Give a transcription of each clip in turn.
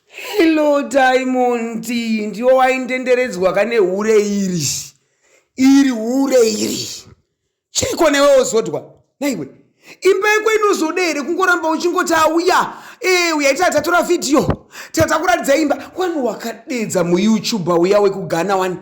Hello Diamond, ndiwo waindenderedzwa ka nehure iri. Iri hure iri. Chiriko newe wozodwa. Naiwe. Imba yako inozode here kungoramba uchingoti auya. Eh, uya ita tatora video. Tata kuratidza imba. Wani wakadedza mu YouTuber uya wekugana wani.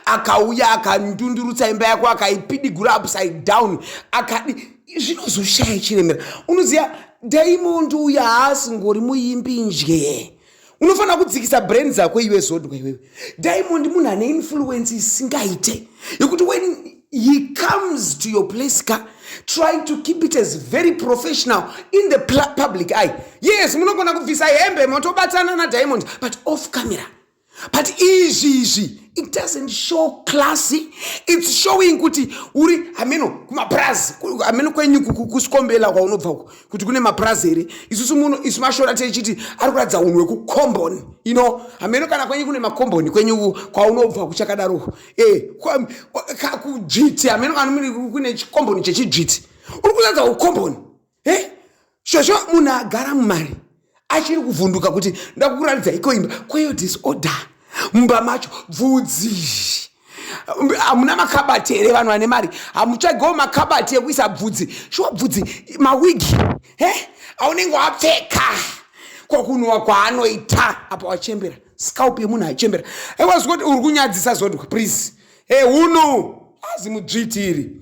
akauya akandundurutsa imba yako akaipidigura upside down akadi zvinozoshaya chiremera unoziva daimondi uyo haasingori muimbi nje unofanira kudzikisa brain dzako iwe zodwa iwewe daimondi munhu ane influence isingaite yekuti when he comes to your place ka try to keep it as very professional in the public eye yes munogona kubvisa hembe motobatsana nadiamond but off camera but izvi izvi it doesn't show classy its showing kuti uri hameno kumapurazi hameno kwenyu kusikombela kwaunobva uko kuti kune mapurazi here isusu muno isu mashora techiti ari kuratidza unhu wekukomboni ino hameno kana kwenyu kune makomboni kwenyu kwaunobva kuchakadaro e eh, kakudzviti hameno kana kune chikomboni chechidzviti uri kuratidza ukomboni he shosho munhu agara mumari achiri kuvhunduka kuti ndakukuratidza iko imba kweyo disorder mumba macho bvudzi hamuna makabati here vanhu vane mari hamutsvagewo makabati ekuisa bvudzi shuwa bvudzi mawigi he aunenge wapfeka kwakunhuwa kwaanoita apa wachembera scalp yemunhu achembera ewa zvikoti uri kunyadzisa zodwa please he hunu azi mudzviti iri